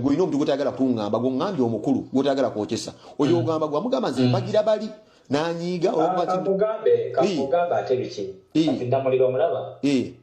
olina omuntu gwotayagala kuŋŋamba gwoŋŋambye omukulu gwotayagala kwokyesa oyo mm. ogamba gwamugamba nze mm. mpagira bali nanyiiga ah,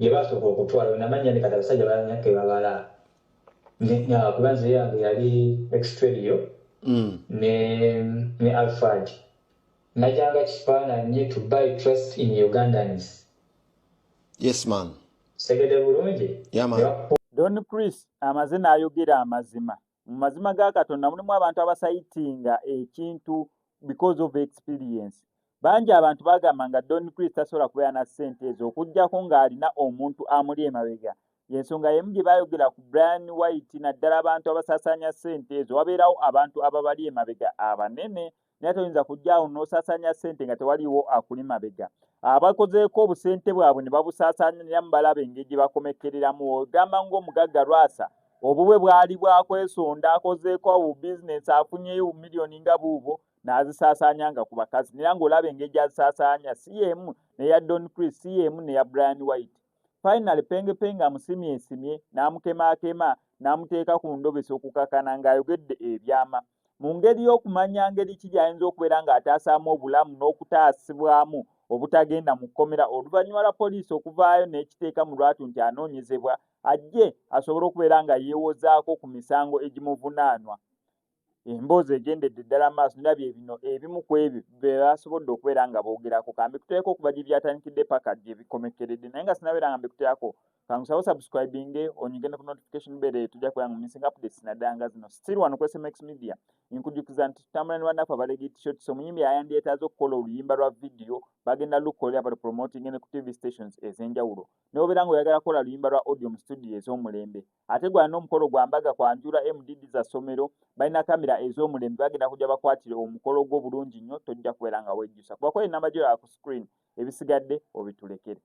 gyebasooka okutwala wenamanya ni kati abasajja balanya kebabala kuba nze yange yali extrerio mm. ne ne alfred najanga kifaananyi to buy trust in ugandans yes man segede bulungi don chris amaze n'ayogera amazima mu mazima ga katonda mulimu abantu abasayitinga ekintu because of experience bangi abantu bagamba nga don chris tasobola kubeera na ssente ezo okugyako ng'alina omuntu amuli emabega yensonga yemu gye bayogera ku brian white naddala abantu abasaasaanya ssente ezo wabeerawo abantu ababali emabega abanene naye toyinza kujja awo n'osaasaanya ssente nga tewaliwo akuli mabega abakozeeko obusente bwabwe ne babusaasaaniramu balaba engeri gye bakomekkereramu ogamba ng'omugagga lwasa obubwe bwali bwakwesonda akozeeko awo bizinensi afunyeyo bumiliyoni nga buubwo n'azisaasaanya nga ku bakazi naye ng'olaba engeri gy'azisaasaanya si y'emu neya don chris si y'emu neya brian white Finally Penge Penge amusimyesimye n'amukemaakema n'amuteeka ku ndobesa okukakana ng'ayogedde ebyama. Mu ngeri y'okumanya ngeri ki gy'ayinza okubeera ng'ataasaamu obulamu n'okutaasibwamu obutagenda mu kkomera oluvannyuma lwa poliisi okuvaayo n'ekiteeka mu lwatu nti anoonyezebwa ajje asobole okubeera nga yeewozaako ku misango egimuvunaanwa. emboozi egendedde ddala maaso nera bye bino ebimu ku ebyo be basobodde okubeera nga boogerako kambe kuteereko okuva gye byatandikidde paka gye bikomekkeredde naye nga sinabeera nga mbikuteerako kangusawo subscribinge onyige ne ku notification bere tujja kubeera mu missing updates naddala nga zino still wano ku smax media nkujukiza nti tutambula ne bannaku abalege t-shirts omuyimbi ayandyetaaza okukola oluyimba lwa vidiyo bagenda lukolera bali promoting ne ku tv stations ez'enjawulo newobeera nga oyagala kukola luyimba lwa audio mu studio ez'omulembe ate gwa n'omukolo gwa mbaga kwanjula mdd za ssomero balina kamera ez'omulembe bagenda kujja bakwatire omukolo gwo bulungi nnyo tojja kubeera nga wejjusa kuba kwali namba gyoyaa ku screen ebisigadde obitulekere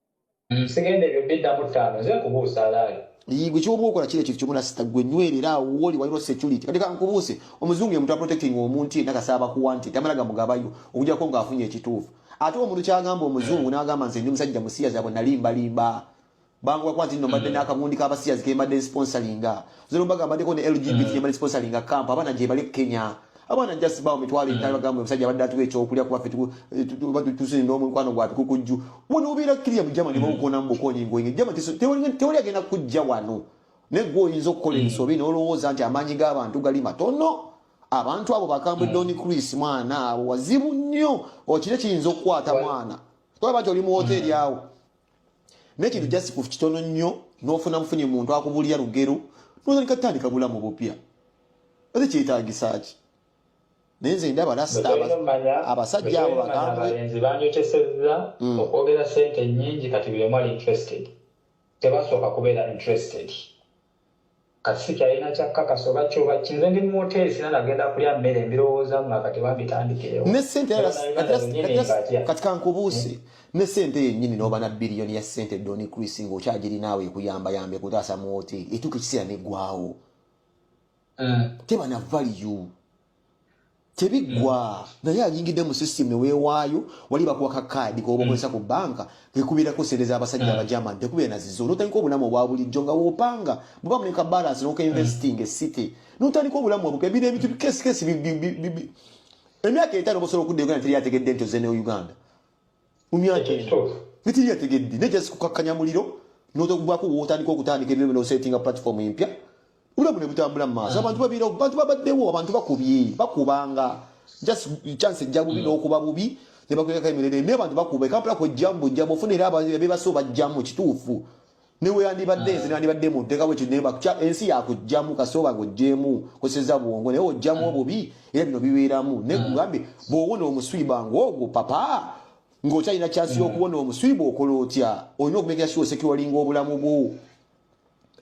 nsigende ebyo biddamu ttaano nze nkubuusa alaali yigwe kyoba okola kiri ekintu kyomuna sita gwe nywerera awo woli waliro security kati kankubuuse omuzungu ye muntu aprotecting omuntu yena kasaba ku wanted tamala gamugabayo okujako nga afunye ekituufu ate omuntu kyagamba omuzungu nagamba nze ndi musajja musiyazi abo nalimbalimba banguwa kwa nti nno mbadde mm. n'akagundi k'abasiyazi ke mbadde nsponsalinga zerumbaga mbaddeko ne lgbt mm. mbadde nsponsalinga kamp abaana gye bali kenya abaana just bawo mitwalo mm. etaano bagamba omusajja abadde atuwa ekyokulya kuba fetusinda omukwano gwatu kukujju wano obeera kiriya mujama ne bawukona mu bukonyi ngoinge jama tewali agenda kujja wano naye gwe oyinza okukola ensobi n'olowooza nti amaanyi g'abantu gali matono abantu abo bakambwe don chris mwana abo wazibu nnyo okire kiyinza okukwata mwana tolaba nti oli mu woteeri awo nekintu just ku kitono nnyo nofuna mufunye muntu akubulira lugero notandika tutandika bulamu bupya ate kyetagisa ki naye nze ndaba lasita abasajja abo bagambalenzi banyotesezza hmm. okwogera sente nyingi kati buli omu ali interested tebasooka kubeera interested Kati sikyalina kyakkakasa oba ki oba ki, nze ndi mu woteeri sirina nagenda kulya mmere, mbirowoozamu nga kati oba mbitandikirewo. Ne ssente era kati kankubuuse hmm. ne ssente yennyini n'oba na biliyoni ya ssente Don Chris ng'okyagirinaawo ekuyambayamba ekutaasa mu woteeri etuuka ekiseera n'eggwawo. Hmm. Teba na value. tebiggwa mm. naye anyingidde mu system newewaayo wali bakuwa ka kaadi koba okozesa ku banka kekubirako sente z'abasajja mm. abajaman tekubira nazizo notandika obulamu obwa bulijjo nga wopanga muba muleka balance nokainvesting mm. esity notandika obulamu obupya bino ebintu kesikesi emyaka etaano bosobola okudda uganda teri ategedde nti ozene uganda mitiri yategedde naye just kukakkanya muliro notokugwako wotandika okutandika ebiro bino osettinga platform empya bulamu ne butambula mu maaso abantu babiira bantu babaddewo abantu bakubye bakubanga just chance ejja bubi n'okuba bubi ne bakwekako emirere naye abantu bakuba ekampala kwejjamu bujjamu ofuna era abebasoo bajjamu kituufu neweyandibadde nze nandibadde munteka bwekyo naye bakya ensi yakujjamu kasooba ngojjeemu koseza bwongo naye ojjamu obubi era bino bibeeramu naye mm. kugambye bwowona omuswiba ngaogwo papa ng'okyalina kyansi mm. y'okuwona omuswiba okola otya olina okumekera siwa osekiwalinga obulamu bwo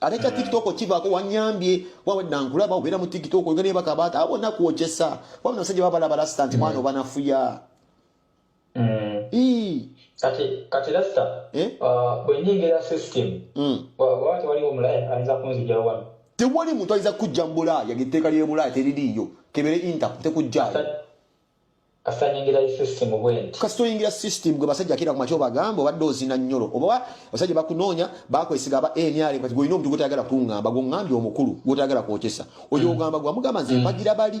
ate kya mm. tiktok kivaako wanyambye wawedda nkulaba obeera mu tiktok oga nebakabaata abona kwokyesa wabona abasajja babalaba lasita nti mwana obanafuya mm. kati kati lasta eh? uh, bwenyingira system mm. waba tewaliwo mulaya ayinza kunzijira wano tewali muntu ayinza kujja mubulaaya ngetteeka lyebulaaya teririiyo kebere inta tekujjaayo kasita oyingira system gwe basajja akira ku makyo bagamba obadde ozina nyolo oba basajja bakunoonya bakwesiga aba nrm kati gwolina omuntu gwotayagala kungamba gwongambye omukulu gwotayagala kwokesa oyo mm. ogamba gwamugamba nze mm. mpagira bali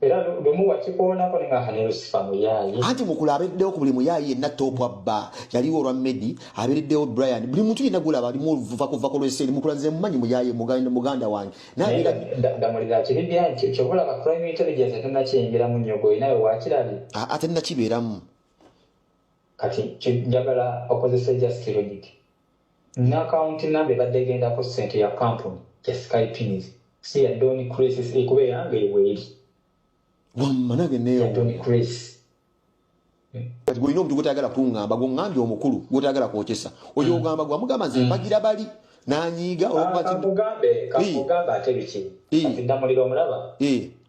era lumu wakikoonako ne nga ne lusifa muyaaye anti mukula abeereddewo ku buli muyaaye yenna toopu abba yaliwo olwa medi abeereddewo brian buli muntu yenna gulaba alimu oluvuva kuva ku lweseeri mukula nze mumanyi muyaaye muganda wange damulira kiri byanti kyobalaba crime intelligence tenakiyingiramu nnyo gwe nawe wakirabi ate nakibeeramu kati njagala okozesa just logic N'akawunti nnamba ebadde egenda ku ssente ya kkampuni ya Sky Pins, si ya Don Chris si kuba era nga eyo weeri. Wamma nange neewuunya. Ya Don Chris. Kati gw'olina omuntu gw'otayagala kungamba, gw'ongambye omukulu gw'otayagala kwokesa, oyo mm. ogamba gwe wamugamba nze mm. mpagira bali n'anyiiga olwokuba ah, kino. Kamugambe, kamugambe ate biki? Kati ddamulira omulaba?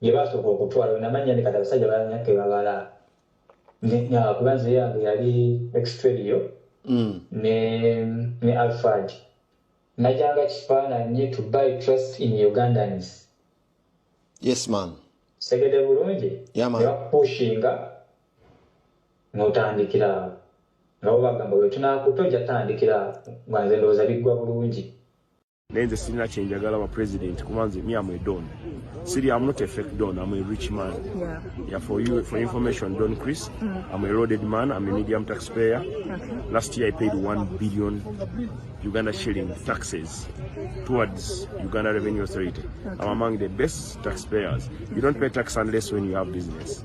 yebasooka okutwala wenamanya ne kati abasajja balanya kebabala kuba nze yange yali extrerio mm. ne ne alfred najanga kifaananyi to buy trust in ugandans yes man segede bulungi nebakupushinga notandikira awo nabo bagamba wetunakuta ojja tandikira awo nga nze ndowooza biggwa bulungi naye nze sirina kyenjagala ba president kuba nze mi am a don siri am not a fake don am a rich man yeah. Yeah, for you for information don chris mm. am a loaded man am a medium taxpayer okay. last year i paid 1 billion uganda shilling taxes towards uganda revenue authority okay. am among the best taxpayers you don't pay tax unless when you have business